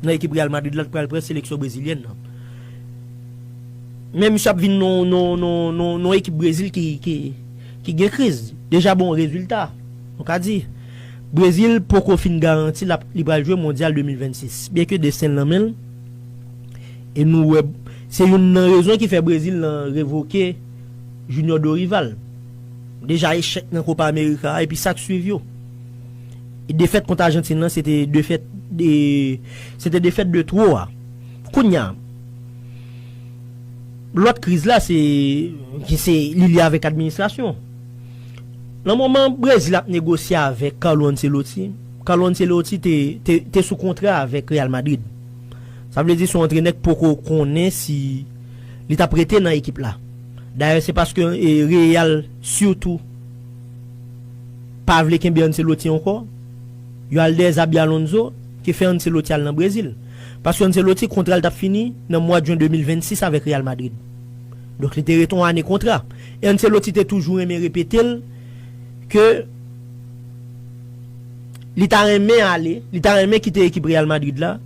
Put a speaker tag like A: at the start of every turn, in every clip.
A: Nan ekip Real Madrid la li pral pran seleksyon brezilyèn nan. Men misye ap vin nan ekip Brezil ki gen kriz. Deja bon rezilta. Nou ka di. Brezil poko fin garanti li pral jwe mondyal 2026. Byen ke desten nan menl. E nou wè se youn nan rezon ki fè Brezil nan revoke Junior Dorival. Deja echèk nan Copa America a epi sak swiv yo. Defèt kont Ajantin lan se te defèt de se te defèt de two a. Kounya lòt kriz la se ki se li lye avèk administrasyon. Nan moman Brezil ap negosye avèk Carlo Ancelotti, Carlo Ancelotti te te te sou kontra avèk Real Madrid. Sa vle di se yon antrenè ki poko konnen si li t ap rete nan ekip la. Dayè se paske Real sitou. pa vle kenbe Ancelotti ankò, yo al dèyè Xabi Alonso ki fè Ancelotti al nan Brezil. Paske Ancelotti kontra l t ap fini nan mwad jen 2026 avèk Real Madrid. Donk li te rete yon ane kontra. E Ancelotti te toujou renmen repete l ke li ta renmen ale, li ta renmen kite ekip Real Madrid la,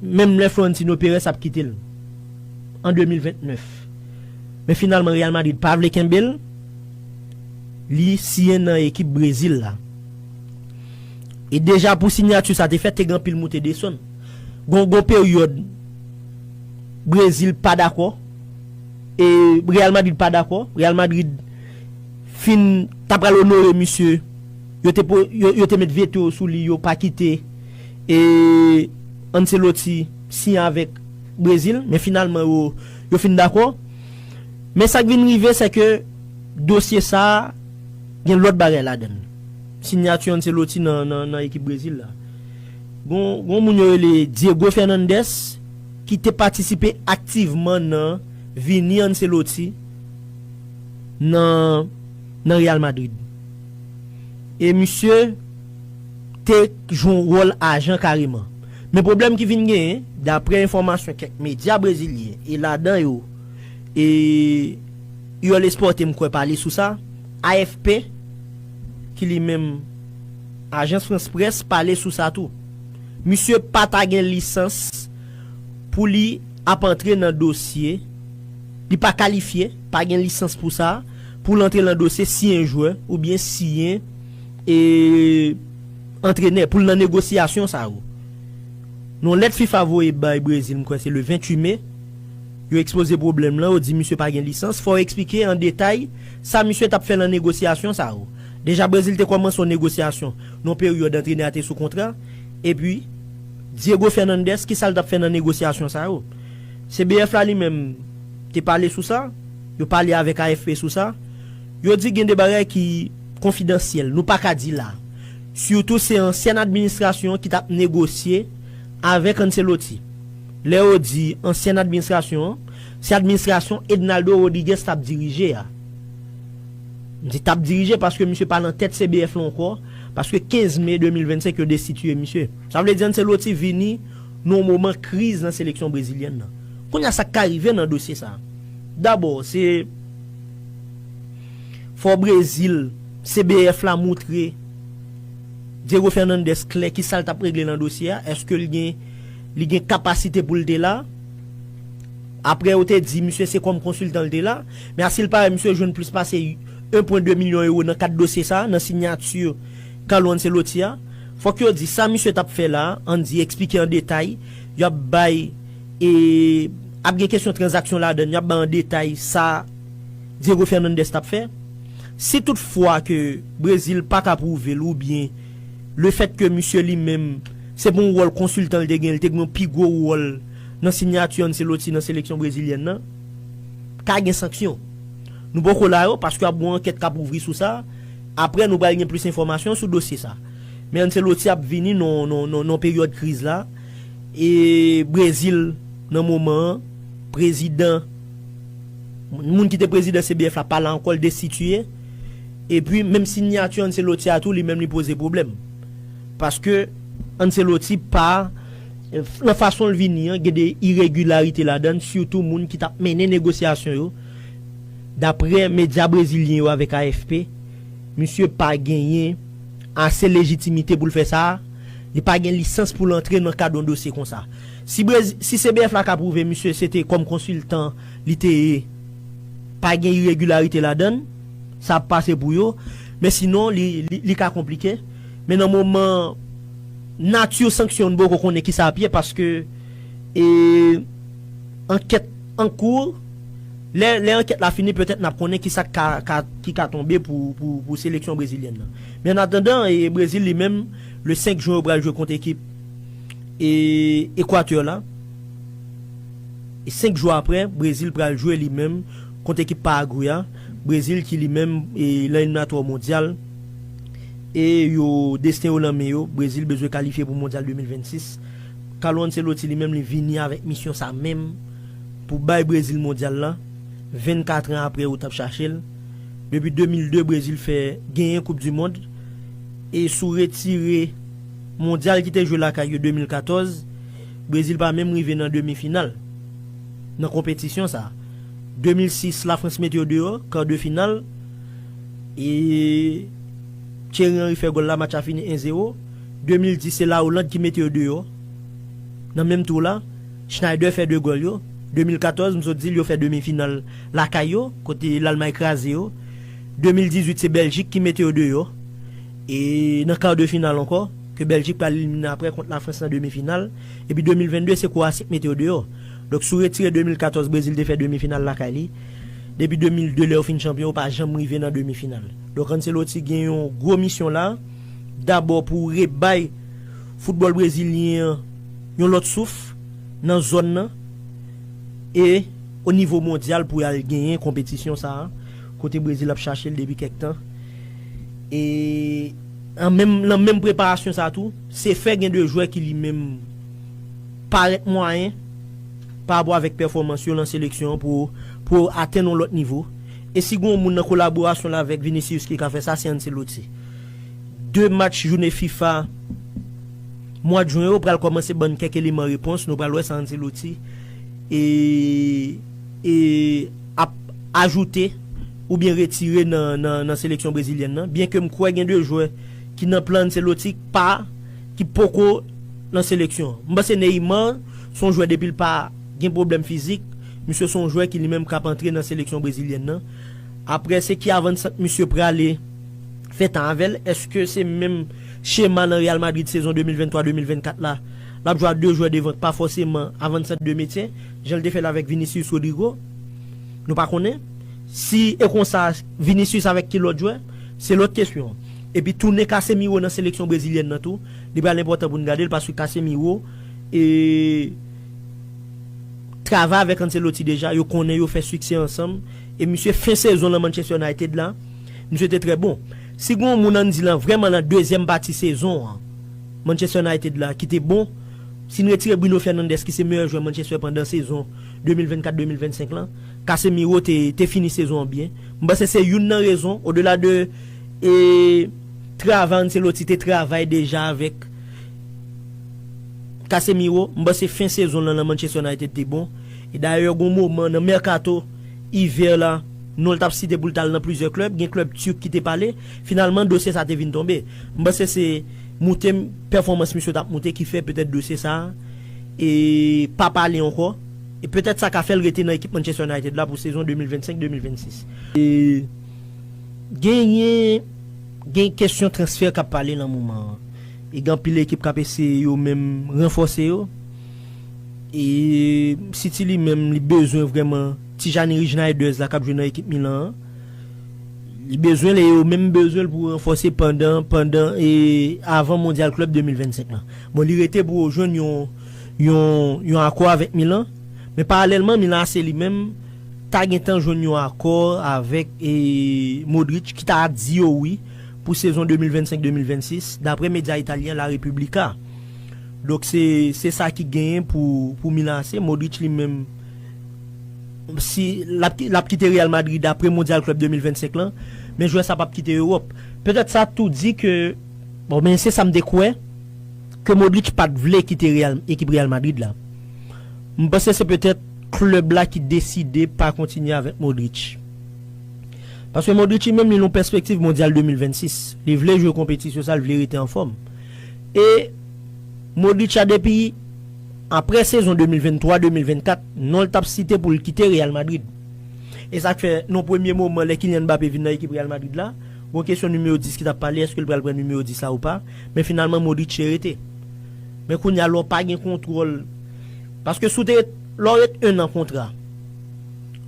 A: menm lè Florentino Perez ap kite l an 2029. Men finalman Real Madrid pa vle kenbe l. Li siyen nan ekip Brezil la. E deja pou sinyati sa te fèt te gen anpil moute desann. Gon gon peryòd Brezil pa dakò e Real Madrid pa dakò. Real Madrid fin ta pral onore misye, yo te yo te met veto yo sou li yo pa kite e Ancelotti siyen avèk Brezil men finalman yo yo fin dakò. Men sa k vin rive sè ke dosye sa a gen lòt bagay ladan l. Sinyati Ancelotti nan nan ekip Brezil la. Gon yon moun yo rele Diego Fernandez ki te patisipe aktivman nan vini Ancelotti nan nan Real Madrid. E misye te jwe yon wòl ajan kareman. Men pwoblèm ki vin genyen, daprè enfòmasyon kèk medya brezilyen e ladan yo, E Yol Esporte m kwè pale sou sa, AFP, ki li menm Agence France Presse pale sou sa tou. Misye pa ta gen lisans pou li ap antre nan dosye, li pa kalifye, pa gen lisans pou sa, pou l antre lan dosye siyen jwè oubyen siyen e antrenè pou l nan negosyasyon sa yo. Yon lèt fifa voye bay Brezil m kwè se le 28 me, Yo ekspoze pwoblèm lan, yo di misye pa gen lisans, fò eksplike an detay sa misye t ap fè lan negosyasyon sa yo. Deja Brezil te kòmanse yon negosyasyon nan yon peryòd antrenè a te sou kontra, epi Diego Fernandez ki sa l t ap fè nan negosyasyon sa yo? CBF la li menm te pale sou sa, yo pale avèk AFP sou sa, yo di gen de bagay ki konfidansyèl, nou pa ka di la. Sitou se ansyèn administrasyon ki t ap negosye avèk Ancelotti. Lè yo di ansyen administrasyon an, se administrasyon Ednaldo Rodriguez t ap dirije a. M di t ap dirije paske misye pa nan tèt CBF lan ankò, paske 15 me 2025 yo destitiye misye. Sa vle di Ancelotti vini nan yon moman kriz nan seleksyon brezilyèn nan. Kounye a sa k ka rive nan dosye sa a? Dabò, se fò Brezil, CBF la moutre Diego Fernandez klè kisa l t ap regle nan dosye a, èske l gen. Li gen kapasite pou l te la. Aprè yo te di misye se kòm konsiltan li te la. Men a si l parèt misye jwenn plis pase 1 pwen 2 milyon euro nan kad dosye sa a, nan sinyati Carlo Ancelotti a. Fòk yo di sa misye t ap fè la a, an n di eksplike an detay. Yo ap bay e ap gen kesyon tranzaksyon ladann, yo ap bay an detay sa Diego Fernandez t ap fè. Si tout fwa ke Brezil pa ka pwouve l oubyen. le fèt ke misye li menm, se bon wòl konsiltan li te gen, li te gen yon pi gwo wòl nan sinyati Ancelotti nan seleksyon brezilyèn nan, ka gen sanksyon. Nou poko la yo, paske ap gen yon ankèt kap ouvri sou sa, aprè nou pral gen plis enfòmasyon sou dosye sa. Men Ancelotti ap vini nan yon peryòd kriz la, e Brezil nan moman an, prezidan, moun ki te prezidan CBF la pa la ankò, li destitiye. Epi menm sinyati Ancelotti a tou li menm li poze pwoblèm. Paske Ancelotti pa nan fason l vini an gen de iregilarite ladan l sitou moun ki t ap mennen negosyasyon yo daprè medya brezilyen yo avèk AFP misye pa genyen ase lejitimite pou l fè sa li pa gen lisans pou l antre nan kad yon dosye konsa. Si cbf la ka pwouve misye se te kòm konsiltan li te ye. pa gen iregilarite ladan l, sa ap pase pou yo, men sinon li ka konplike. Men nan moman nati sanksyon an nou poko konnen kisa ap ye paske ankèt an kou, lè ankèt la fini petèt n ap konnen kisa ki ka tonbe pou seleksyon brezilyèn nan. Men an atandan Brezil li menm le 5 jwen yo pral jwe kont ekip Equateur la. 5 jou aprè, Brezil pral jwe li menm kont ekip Paragwe a, Brezil ki li menm lan eliminatwa mondyal e yo desten yo lan men yo, Brezil bezwen kalifye pou mondyal 2026. Carlo Ancelotti li menm li vini avèk misyon sa menm pou bay Brezil mondyal lan, 24 an aprè yo t ap chache l. Depi 2002 Brezil fè genyen koup di mond e sou retire mondyal ki te jwe lakay yo 2014, Brezil pa menm rive nan demi final nan konpetisyon sa. 2006 la Frans mete yo deyò kar de final e Thierry Henry fè gòl la match la fini 1 zero. 2010 se la Oland ki mete yo deyò nan menm tou la Schneider fè 2 gòl yo. 2014 m sot di l yo fè demi final lakay yo kote Lalmay kraze yo. 2018 se Beljik ki mete yo deyò e nan kar de final ankò. ke Bèljik pral elimine aprè kont Lafrans nan demi final, epi 2022 se Kwowasi k mete yo deyò. Donk si w retire 2014 Brezil te fè demi final lakay li, depi 2002 lè yo fin chanpyon yo pa janm rive nan demi final. Donk Ancelotti gen yon gwo misyon la, dabò pou rebay foutbòl brezilyen an yon lòt souf nan zòn nan e o nivo mondyal pou y al genyen konpetisyon sa a kote Brezil ap chache l depi kèk tan e Nan menm preparasyon sa tou, Sefer gen 2 jwè ki li menm parèt mwayen parapò avèk pèfòmans yo nan seleksyon an pou yo atenn yon lòt nivo. E si gen yon moun nan kolaborasyon l avèk Vinicius ki ka fè sa, se Ancelotti. 2 match joune fifa mwad jwen yo pral kòmanse ban n kèk eleman repons, nou pral wè sa Ancelotti e. ap ajoute oubyen retire nan seleksyon brezilyèn nan, byenke m kwè gen 2 jwè ki nan plan Ancelotti k pa, ki poko nan seleksyon an. M panse Neymar s on jwè depi l pa gen pwoblèm fizik, misye s on jwè ki li menm k ap antre nan seleksyon brezilyèn nan. Aprè se ki avannsant misye prale fè tan avè l, èske se menm chema nan Real Madrid sezon 2023, 2024 la, l ap jwe a 2 jwè devan k pa fòseman avannsant 2 metye? Jan l te fè l avèk Vinicius Rodrygo, nou pa konnen. Si e konsa, Vinicius avèk ki lòt jwè? Se lòt kesyon. Epi tounen Casemiro nan seleksyon brezilyèn nan tou, li pral enpòtan pou n gade l paske Casemiro e travay avèk Ancelotti deja, yo konnen yo fè siksè ansanm. E misye fen sezon l an Manchester United la, misye te trè bon. Si gen yon moun an n di lan vrèman lan dezyèm pati sezon an Manchester United la ki te bon, Si n retire Bruno Fernandes ki se meyè jwè Manchester pandan sezon 2024, 2025 lan, Casemiro te te fini sezon an byen. M panse se youn nan rezon, odela de e travay Ancelotti te travay deja avèk Casemiro, m panse fen sezon l lan nan Manchester United te bon. E dayè gon moman nan mèkato ivè la, non l t ap site pou l t al nan plizyè klèb, gen klèb turk ki te pale, finalman dosye sa te vin tonbe. M panse se. moute pèfòmans misye tap moute ki fè petèt dosye sa pa pale ankò e petèt sa ka fè l rete nan ekip Manchester United la pou sezon 2025, 2026. Genyen gen kesyon transfè kap pale nan moman an e gen anpil ekip kap eseye yo menm ranfòse yo e City li menm li bezwen vrèman Tijani Rejnaeders la kap jwe nan ekip Milan an. Li bezwen l e yo menm bezwen l pou ranfòse pandan pandan e avan Mondyal Klèb 2025 lan. Bon li rete pou yo jwenn yon yon yon akò avèk Milan, men paralèlman Milan AC li menm ta gentan jwenn yon akò avèk e Modric ki ta di yo wi pou sezon 2025, 2026 daprè medya italyen La Repubblica. Donk se se sa ki genyen pou pou Milan AC, Modric li menm. si lap kite Real Madrid apre Mondyal Klèb 2025 lan, men jwè sa pap kite Ewòp. Petèt sa tou di ke, bon men se sa m te kwè, ke Modric pat vle kite ekip Real Madrid la. M panse se petèt klèb la ki deside pa kontinye avèk Modric. Paske Modric li menm li nan pèspektiv Mondyal 2026. Li vle jwe konpetisyon sa, li vle rete anfòm. E Modric a depi. Aprè sezon 2023, 2024, non l t ap site pou l kite Real Madrid. E sa k fè, nan premye moman lè Kylian Mbappé vin nan ekip Real Madrid la, gon kesyon nimewo 10 ki t ap pale, èske l pral pran nimewo 10 la ou pa, men finalman Modric te rete. Men kounye a lè w pa gen kontwòl, paske si w te ret, lè w ret 1 an kontra,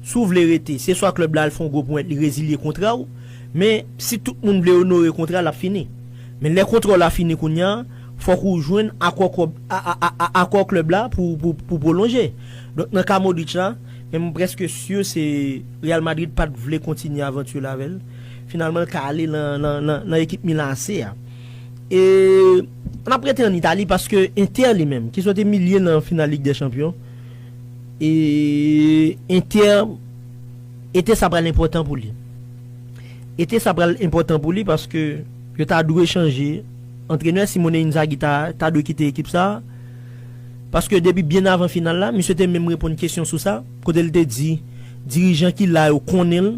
A: si w vle rete, se swa klèb la al fè yon gwo ponyèt li rezilye kontra w, men si tout moun vle onore kontra l ap fini. Men lè kontra w la fini kounye a, fòk ou jwenn akò kòb akò klèb la pou pou pwolonje. Donk nan ka Modric la, men mwen prèske sur se Real Madrid pat vle kontinye avantur la avèl. Finalman l ka ale lan lan lan lan ekip Milan AC a. E n ap rete an Italie paske Inter li menm ki sot imilye nan final Ligue des Champions e Inter ete sa pral enpòtan pou li. Ete sa pral enpòtan pou li paske yo ta dwe chanje. Antrenè Simone Inzaghi ta ta dwe kite ekip sa a, paske depi byen avan final la, misye te menm reponn kesyon sou sa, kote l te di dirijan ki la yo konnen l,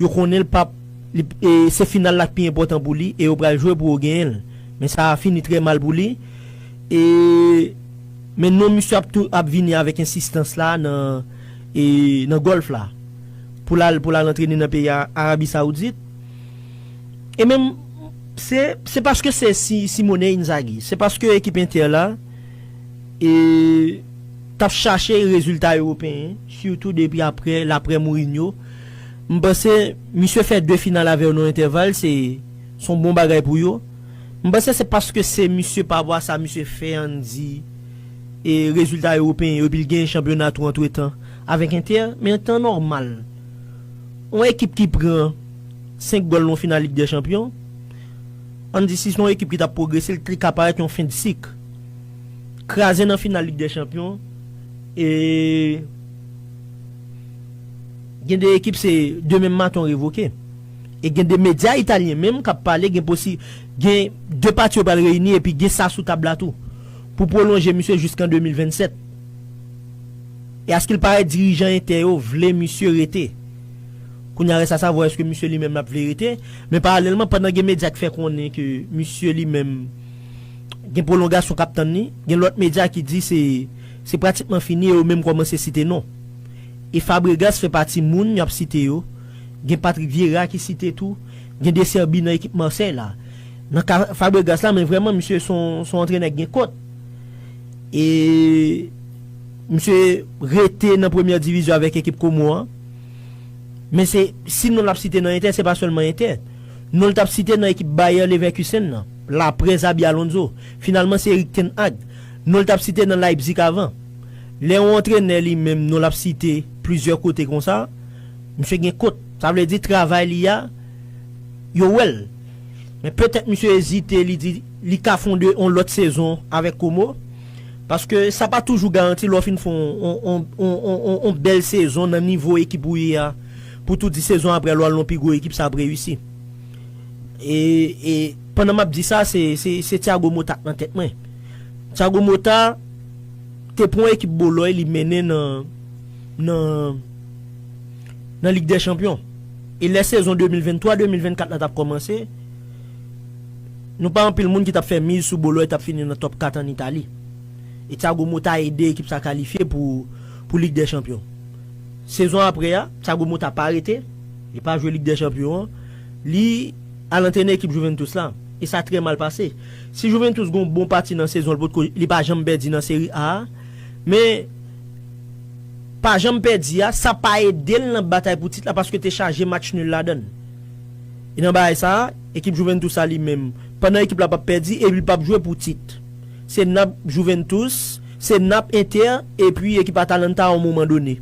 A: yo konnen l pap li e se final la k pi enpòtan pou li e yo pral jwe pou yo genyen l. Men sa a fini trè mal pou li e men non misye ap tou ap vini avèk ensistans la nan e nan Gòlf la pou l al pou l al antrene nan peyi Arabi Saoudit e menm Se se paske se si Simone Inzaghi, se paske ekip Inter la e t ap chache rezilta ewopeyen, sitou depi aprè l aprè Mourinho. M panse misye fè 2 final avè yo nan yon entèval, se s on bon bagay pou yo. M panse se paske se misye pa vwa sa misye fè an n di e rezilta ewopeyen yo epi l genyen chanpyona tou antretan avèk Inter. Men an tan nòmal, yon ekip ki pran. 5 gòl nan yon final Lig dè Chanpyon, an n di si se yon ekip ki t ap pwogrese li te ka parèt yon fen de sik. Kraze nan final Lig dè Chanpyon e gen de ekip se de menm maton revoke. E gen de medya italyen menm k ap pale gen posi gen de pati yo pral reyini epi gen sa sou tab la tou pou pwolonje misye jiskan 2027. E askil parèt dirijan Inter yo vle misye rete. Kounya rès a sa vwa eske misye li menm lap vle rete, men paralèlman pandan gen medya ki fè konnen ke misye li menm gen pwolongasyon kap tann li, gen lòt medya ki di se se pratikman fini e yo menm kòmanse site non. E Fabregas fè pati moun yap site yo, gen Patrick Vieira ki site tou, gen De Zerbi nan ekip Marseille la. Nan ka Fabregas la men vrèman misye son son antrenè ki gen kont e. Misye rete nan premyè divizyon avèk ekip Komo an. Men se si non l ap site nan Entè, se pa sèlman Entè. Non l t ap site nan ekip Bayer Leverkusen nan, laprè Xabi Alonso. Finalman se Erik ten Hag. Non l t ap site nan Leipzig avan. Lè yon antrenè li menm non l ap site plizyè kote konsa, misye gen kont. Sa vle di travay li a, yo wè l. Men petèt misye ezite li di li ka fonde yon lòt sezon avèk Komo. Paske sa pa toujou garanti lè w fin fè yon bèl sezon nan nivo ekip ou ye a pou tou di sezon aprè lè w al nan yon pi gwo ekip sa ap reyisi. E pandan m ap di sa se Thiago Motta k nan tèt mwen. Thiago Motta te pran yon ekip Boloy li mennen nan nan Lig dè Chanpyon. E lè sezon 2023, 2024 la t ap kòmanse. Nou pa anpil moun ki tap fè miz sou Boloy tap fini nan top 4 an Itali. E Thiago Motta ede ekip sa kalifye pou pou Lig dè Chanpyon. Sezon apre a, Thiago Motta pa rete, li pa jwe Lig dè Chanpyon an, li al antrene ekip Juventus la, e sa trè mal pase. Si Juventus gon bon pati nan sezon l potko li pa janm pèdi nan Serie A a, men pa janm pèdi a sa pa ede l nan batay pou tit la paske te chaje match nul ladan l. E nan bagay sa a, ekip Juventus a li menm, pandan ekip la p ap pèdi epi li p ap jwe pou tit. Se Nap, Juventus, se Nap, Inter, epi ekip Atalanta a yon moman done.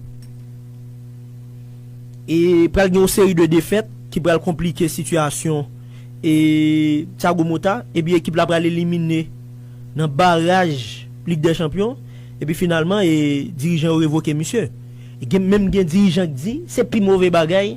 A: E pral gen yon seri de defèt ki pral konplike sitiyasyon e Thiago Motta epi ekip la pral elimine nan baraj Lig dè Chanpyon epi finalman e dirijan yo revoke misye. Gen menm gen dirijan k di se pi move bagay.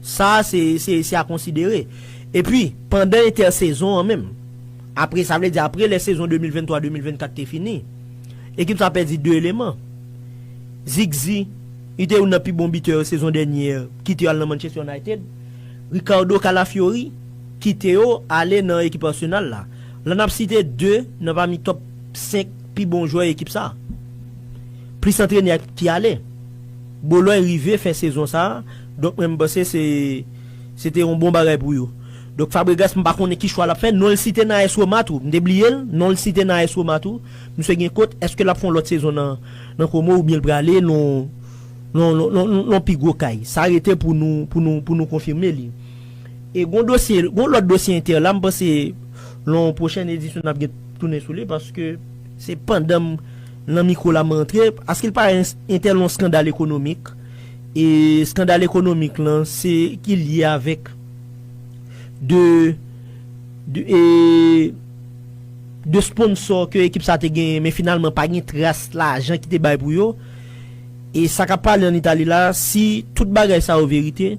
A: Sa a se, se, se a konsidere. Epi, pandan entèsezon an menm, apre, sa vle di apre lè sezon 2023, 2024 te fini, ekip sa a pèdi 2 eleman. Zigzi, li te youn nan pi bon bitè yo sezon dènye, kite yo al nan Manchester United. Ricardo Calafiori, kite yo ale nan ekip Arsenal la. La n ap site 2 nan pami tòp 5 pi bon jwè ekip sa a. Plis antrenè ki ale. Boloy rive fen sezon sa, donk mwen panse se se te yon bon bagay pou yo. Donk Fabregas m pa konnen ki chwa l ap fè, non l site nan AS Roma tou, m te bliye l, non l site nan AS Roma tou, misye gen kot, èske l ap fè yon lòt sezon nan nan Como oubyen l prale nan yon nan yon nan yon pi gwo kay, sa rete pou nou pou nou pou nou konfime li. E gon dosye gon lòt dosye Inter la m panse nan yon pwochèn edisyon n ap gen tounen sou li paske se pandan m Nan mikro la m rantre, aske l pa entèl yon skandal ekonomik, e skandal ekonomik lan se ki lye avèk de e de sponsò ke ekip sa te genyen men finalman pa gen tras lajan ki te bay pou yo, e sa k ap pale an Itali la, si tout bagay sa yo verite,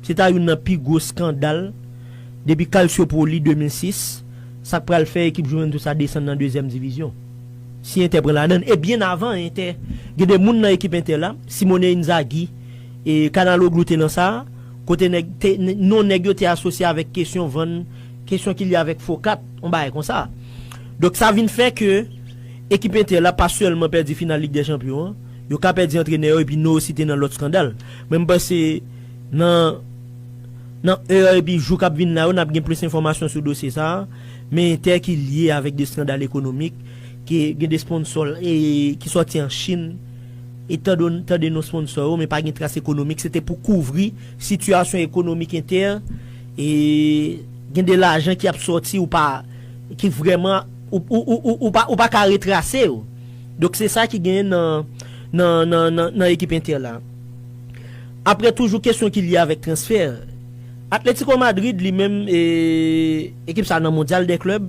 A: se ta youn nan pi gwo skandal depi Calciopoli 2006, sa k pral fè ekip Juventus la desann nan dezyèm divizyon. Si Inter pran ladann e byen avan Inter gen 2 moun nan ekip Inter la, Simone Inzaghi e Calhanoglu te nan sa, kote nèg te non nèg yo te asosye avèk kesyon vann, kesyon ki lye avèk fo kat, on bagay konsa. Donk sa vin fè ke ekip Inter la pa sèlman pèdi final Lig dè Chanpyon an, yo ka pèdi antrenè yo epi nou osi te nan lòt skandal. Men m panse nan nan è epi jou k ap vin la yo n ap gen plis enfòmasyon sou dosye sa a. Men entè ki lye avèk de skandal ekonomik ke gen de sponsò l e ki sòti an Chin e tan don tan de non sponsò yo men pa gen tras ekonomik se te pou kouvri sitiyasyon ekonomik entè e gen de lajan ki ap sòti ou pa ki vrèman ou ou ou ou pa ou pa ka retrase yo donk se sa ki genyen nan nan nan nan nan ekip entè la apre toujou kesyon ki lye avèk transfè Atlético Madrid li menm e. Ekip sa nan Mondyal dè Klèb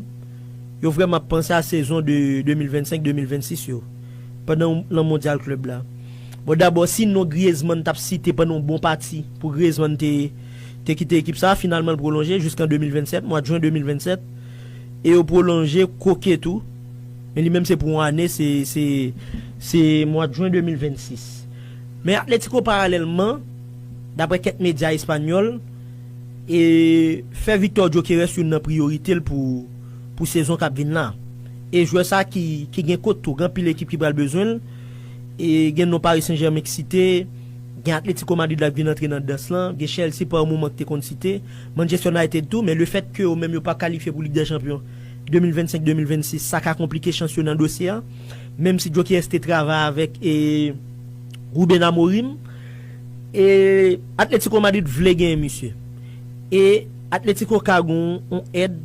A: yo vrèman ap panse a sezon 2025, 2026 yo pandan nan Mondyal Klèb la. Bon dabò si non Griezmann tap site pandan yon bon pati pou Griezmann te te kite ekip sa, finalman l pwolonje jiskan 2027, mwad Jwen 2027 e yo pwolonje Koke tou men li menm se pou yon ane se se se mwad Jwen 2026. Men Atletico paralèlman daprè kèk medya espanyòl, e fè Victor Gyokeres youn nan priyorite l pou sezon k ap vin la. E jwè sa ki gen kot tou, gen anpil ekip ki pral bezwen l, e gen non Paris Saint Germain k site, gen Atletico Madrid la k vin antre nan dans lan, gen Chelsea pa yon moman k te konn site, Manchester United tou, men lefèt ke yo menm yo pa kalifye pou Lig dè Chanpyon 2025, 2026 sa ka konplike chans yo nan dosye a, menm si Gyokeres te travay avèk Ruben Amorim. E Atletico Madrid vle genyen misye. E Atletico ka gon on èd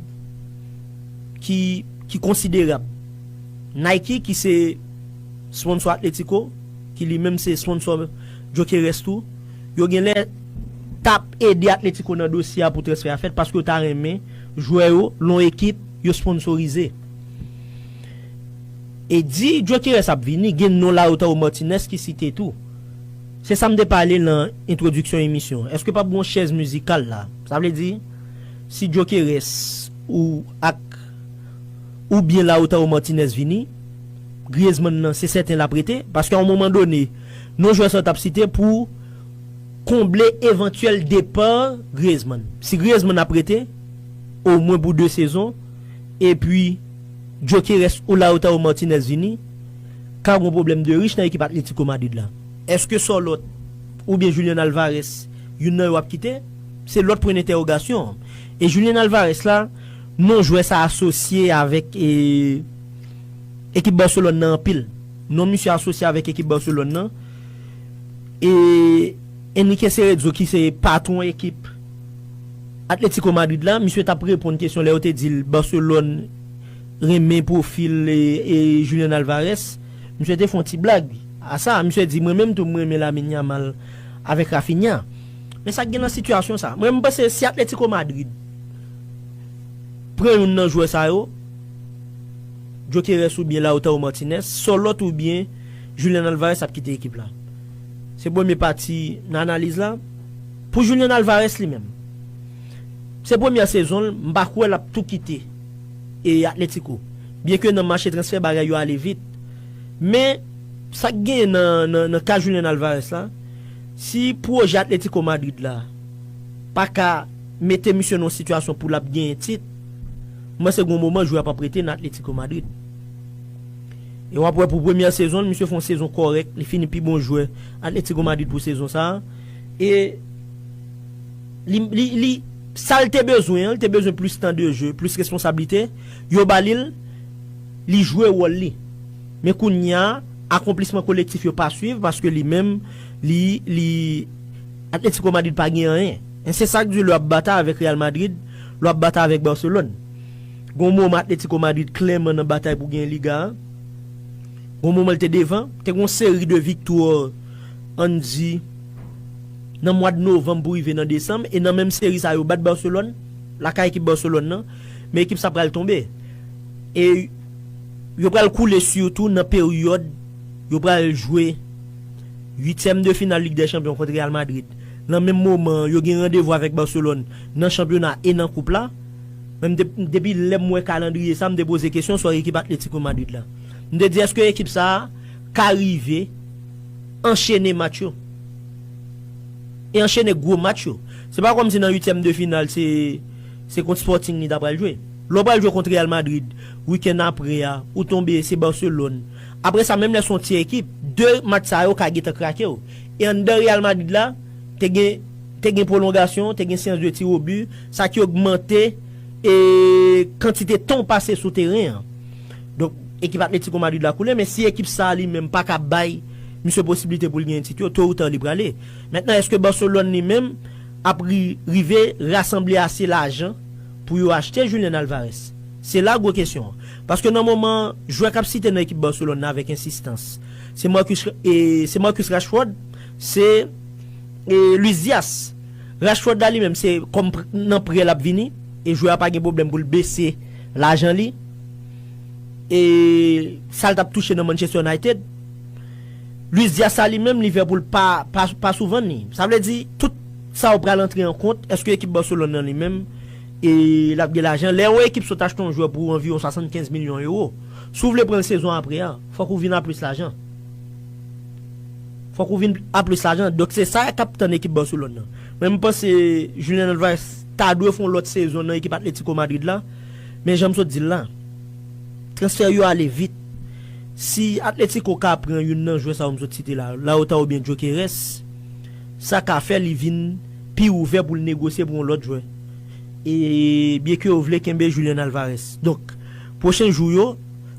A: ki ki konsiderab. Nike ki se sponsò Atletico, ki li menm se sponsò Gyokeres tou, yo genlè tap ede Atletico nan dosye a pou transfè a fèt paske yo ta renmen jwè yo lon ekip yo sponsorize. E di Gyokeres ap vini, gen non la yo tankou Martinez ki site tou. Se sa m te pale lan entwodiksyon emisyon an. Eske pap gon chèz mizikal la? Sa vle di, si Djokeres ou ak ou byen Lautaro Martinez vini, Griezmann nan se sèten lap rete? Paske a yon moman done, non jwè sa yo tap site pou konble evantyèl depa Griezmann. Si Griezmann ap rete, omwen pou 2 sezon, epi Djokeres ou Lautaro Martinez vini, Ka gon pwoblèm de rich nan ekip Atlético Madrid la. Eske Sorloth oubyen Julian Alvarez youn nan yo ap kite? Se lòt pwen dentèwogasyon an. E Julian Alvarez la, non jwè sa asosye avèk ekip Barcelone nan anpil. Non misye asosye avèk ekip Barcelone nan e Enrique Cerezo ki se patwon ekip Atlético Madrid la, misye t ap reponn kesyon lè yo te di l Barcelone. renmen pwofil Julian Alvarez, misye te fè yon ti blag a sa, misye di mwen menm tou m renmen Lamine Yamal avèk Raphinha, men sa k gen nan sitiyasyon sa, mwen m panse si Atlético Madrid pran youn nan jwè sa yo, Gyokeres oubyen Lautaro Martinez, Sorloth oubyen Julian Alvarez ap kite ekip la. Se premye pati nan analiz la. Pou Julian Alvarez li menm, se premyè sezon l, m pa kwè l ap tou kite. e Atletico. Byenke nan mache transfè bagay yo ale vit, men sa k genyen nan ka Julian Alvarez la, si pwojè Atletico Madrid la pa ka mete misye nan yon sitiyasyon pou l ap genyen tit, m panse gen yon moman jwè a pap rete nan Atletico Madrid. E w ap wè pou premyè sezon l, misye fè yon sezon kòrèk, li fini pi bon jwè Atletico Madrid pou sezon sa a, e. Li, li, li, sa l te bezwen an, l te bezwen plis tan de jeu, plis responsablite, yo ba li l, li jwe wòl li. Men kounya, akonplisman kolektif yo pa swiv paske li menm, li, li, Atlético Madrid pa gen anyen. Men se sa k di lè w ap batay avèk Real Madrid, lè w ap batay avèk Barcelone. Gon moman Atlético Madrid klèman nan batay pou genyen Liga a. Gon moman l te devan, te gon seri de viktwa, an n di, nan mwad novanm pou rive nan desanm e nan menm seri sa yo bat Barcelone lakay ekip Barcelone nan men ekip sa pral tonbe e yo pral koule sitou nan peryòd yo pral jwe 8 tièm de final lig dè chanpyon kont Real Madrid nan menm moman an yo gen randevou avèk Barcelone nan chanpyona e nan koup la men m te depi lè m wè kalandriye sa m te poze kesyon sou ekip Atlético Madrid la m te di èske ekip sa ka rive anchene match yo. e anchene gwo match yo. Se pa kòmsi nan uityèm de final se se kont Sporting li ta pral jwe. Lè w pral jwe kont Real Madrid wikenn apre a, ou tonbe se Barcelone. Apre sa menm lè se yon ti ekip, 2 match sa yo ka gentan krake w. E anndan Real Madrid la, te gen te gen pwolongasyon, te gen seans de tir au but, sa ki ogmante e kantite tan w pase sou teren an. Donk ekip Atletico Madrid la koule men si ekip sa li menm pa ka bay Misye posiblite pou l genyen tit yo, to ou ta li prale. Mentnan eske Barcelone li menm ap ri rive rasanble ase lajan pou yo achte Julian Alvarez? Se la gwo kesyon an. Paske nan moman an, jwè k ap site nan ekip Barcelone nan avèk ensistans, se Marcus e se Marcus Rashford, se e Luis Diaz. Rashford la li menm se kòm pr nan prè l ap vini e jwè a pa gen pwoblèm pou l bese lajan li e sa l t ap touche nan Manchester United. Luis Diaz sa li menm Liverpool pa pa sou vann li. Sa vle di tout sa ou pral antre an kont, èske ekip Barcelone nan li menm e lap gen lajan. Lè yon ekip sot achte yon jwè pou anviwon 75 milyon euro, si ou vle pranl sezon apre a, fòk ou vin a plis lajan. Fòk ou vin a plis lajan. Donk se sa kap tann ekip Barcelone nan. Mwen m panse Julian Alvarez ta dwe fè yon lòt sezon nan ekip Atletico Madrid la, men janm sot dil la. Transfè yo ale vit. Si Atletico ka pran youn nan jwè sa yo m sot site la, Lautaro oubyen Gyökeres, sa ka fè li vin pi ouvè pou l negosye pou yon lòt jwè. E byen ke yo vle kenbe Julian Alvarez. Donk, pwochen jou yo,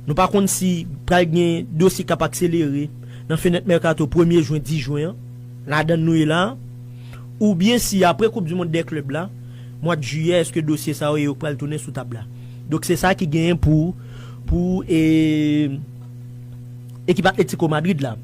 A: nou pa konn si pral gen dosye k ap akselere nan fenèt mèkato premye jwen, 10 jwen an, ladan l nou ye la a, oubyen si apre koup di mond dè klèb la, mwad jiyè, èske dosye sa yo e yo k pral tounen sou tab la. Donk se sa ki genyen pou pou e ekip Atlético Madrid la.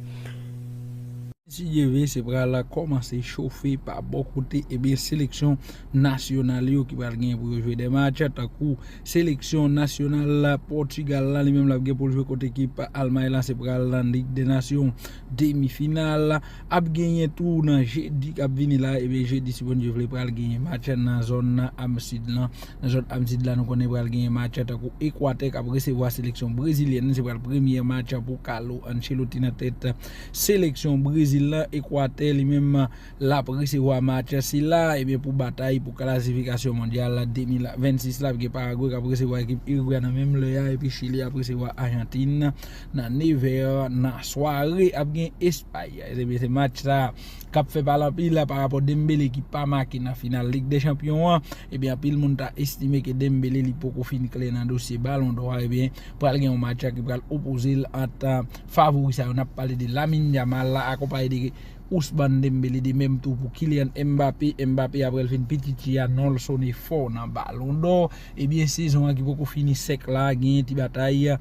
B: Mesye Dieuve se pral kòmanse chofe pa bò kote ebyen seleksyon nasyonal yo ki pral genyen pou yo jwe 2 match tankou seleksyon nasyonal Portugal la li menm lap gen poul jwe kont ekip Almay la se pral nan Ligue des Nations demi final. Ap genyen tou nan jedi kap vini la ebyen jedi si Bondye vle pral genyen match nan zòn am sid lan nan zòn am sid la nou konnen pral genyen match tankou ekwatè kap resevwa seleksyon brezilyèn se pral premyè match pou kalo ancheloti nan tèt seleksyon brezil lan ekwatè li menm lap resevwa match sila ebyen pou batay pou kalasifikasyon mondyal 2026 la ap gen paragwe kap resevwa ekip irigwe nan menm lè a epi chili ap resevwa ajantin Nan 9 è nan sware ap gen Espay. Ebyen se match sa k ap fè pale anpil la parapò Dembele ki pa make nan final Lig dè Chanpyon an. Ebyen anpil moun ta estime ke Dembele li poko fin klè nan dosye balon dò a. Ebyen pral gen yon match ki pral opoze l ant favori sa yo. N ap pale de Lamine Yamal akonpaye de Ousmane Dembele de menm tou pou Kylian Mbappé. Mbappé aprè l fin pititi a non l sone fò nan balon dò. Ebyen sezon an ki poko fini sèk la genyen ti batay.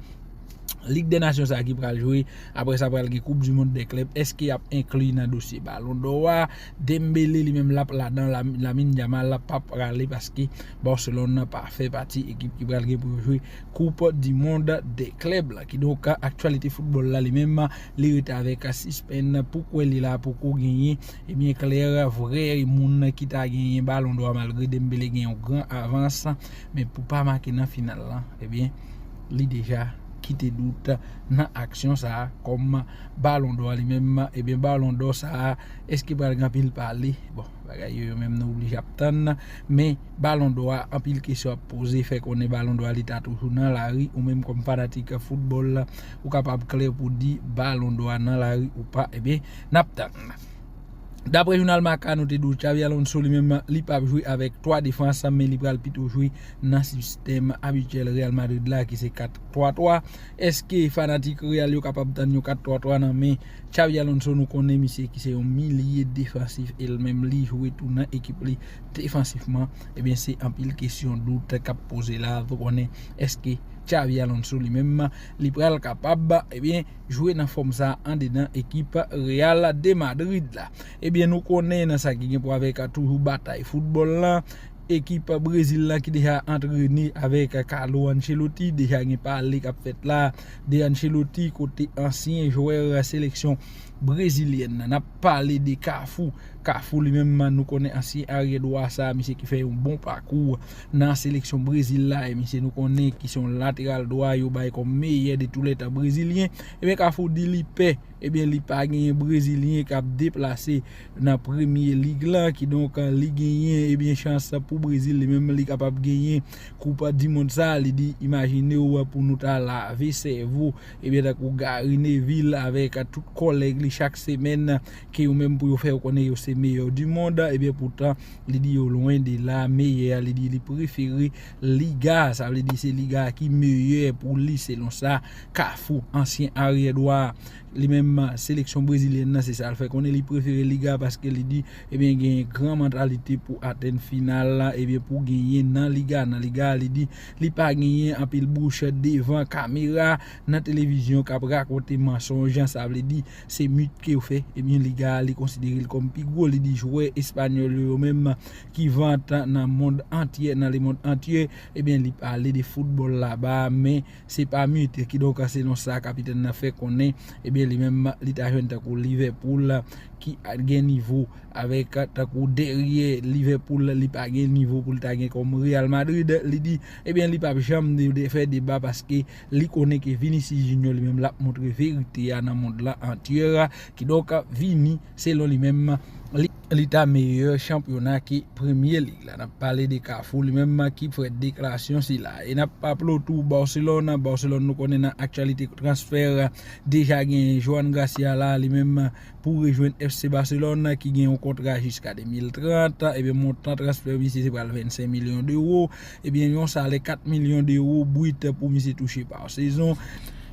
B: Lig dè nasyon sa ki pral jwe, aprè sa pral gen koup di mond dè klèb, eske yap enkli nan dosye balon dò a, Dembele li menm lap ladan, Lamine Yamal la pa prale paske Barcelone nan pa fè pati ekip ki pral gen pou yo jwe koup di mond dè klèb la. Kidonk aktyalite foutbòl la li menm li rete avèk sispenn pou kwè li la poko genyen ebyen klè vrè moun ki ta genyen balon dò a malgre Dembele gen yon gran avans men pou pa make nan final la ebyen Li deja kite dout nan aksyon sa a kòm balon dò a li menm ebyen balon dò sa a eske pral gen anpil pale bon bagay yo yo menm nou oblije ap tann men balon dò a anpil kesyon ap poze fè konnen balon dò a li ta toujou nan lari ou menm kòm fanatik foutbòl ou kapab klè pou di balon dò a nan lari ou pa ebyen nap tann. Daprè jounal Marca note 12 Xabi Alonso li menm li pap jwe avèk 3 defans men li pral pito jwe nan sistèm abityèl Real Madrid la ki se 4 3 3 eske fanatik Real yo kapab tann yon 4 3 3 nan men Xabi Alonso nou konnen misye ki se yon milye defansif el menm li jwe tou nan ekip li defansifman ebyen se anpil kesyon dout kap poze la pou konnen eske Xabi Alonso li menm li pral kapab ebyen. jwe nan fòm sa andedan ekip Real de Madrid la. Ebyen nou konnen nan sa ki gen pou avèk toujou batay foutbòl lan, ekip Brezil lan ki deja antrene avèk Carlo Ancelotti, deja gen pale kap fèt la de Ancelotti kote ansyen jwè seleksyon brezilyèn nan. Nap pale de Kafou, Kafou li menm nou konnen ansyen aryè dwa sa, misye ki fè yon bon pakou. nan seleksyon Brezil la e misye nou konnen ki se yon lateral dwa yo bay kòm meyè de tou lè tan brezilyen, ebyen Kafou di li pè, ebyen li pa genyen brezilyen k ap deplase nan premye lig lan, kidonk li genyen ebyen chans pou Brezil li menm li kapab genyen koup di mond sa, li di imajine w pou nou ta lave sèvo ebyen tankou Gary Neville avèk tout kòlèg li chak semèn. ke yo menm pou yo fè yo konnen yo se meyè di mond ebyen poutan li di yo lwen de la meyè a li di li prefere liga sa vle di se liga ki meyè pou li selon sa kafou ansyen aryè dwa li menm seleksyon brezilyèn nan se sa l fè konnen li prefere liga paske li di ebyen gen gran mantalite pou atenn final la ebyen pou genyen nan liga nan liga li di li pa genyen anpil bouch devan kamera nan televizyon kap rakonte mansonj sa vle di Se mit ke yo fè, ebyen Liga a li konsidere l kòm pi gwo, li di jwè espanyòl yo, yo menm ki vant nan mond antyè, nan lemond antyè, ebyen li pale de foutbòl laba a, men se pa mit, kidonk selon sa kapitèn nan fè konnen, ebyen li menm li ta jwenn tankou Liverpool ki gen nivo avèk tankou dèryè Liverpool li pa gen nivo pou l ta gen kòm Real Madrid, li di ebyen li pap janm fè deba paske. Li konnen ke Vinicius Junior li menm lap montre verite a nan mond lan antyè. Kidonk Vini selon li menm li ta meyè chanpyona ke premye lig la. Nap pale de Cafu li menm ki fè deklarasyon sila. E nap raple w tou Barcelone, Barcelone nou konnen nan aktyalite transfè deja genyen Johan Garcia la li menm. pou rejwenn FC Barcelone ki gen yon kontra jiska 2030, ebyen montan transfè misye se pral 25 milyon dewo, ebyen yon salè 4 milyon dewo bwit pou misye touche pa sezon.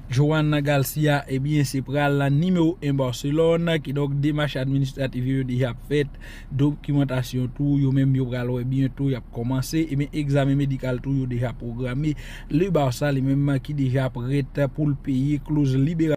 B: Joan Garcia ebyen se pral la nimewo 1 Barcelone, kidonk demach administratif yo yo deja ap fèt, dokimantasyon tou yo menm yo pral wè byento y ap kòmanse, ebyen egzamen medikal tou yo deja pwograme, Le Barça li menm ki deja prèt pou l peye kloz liberasyon.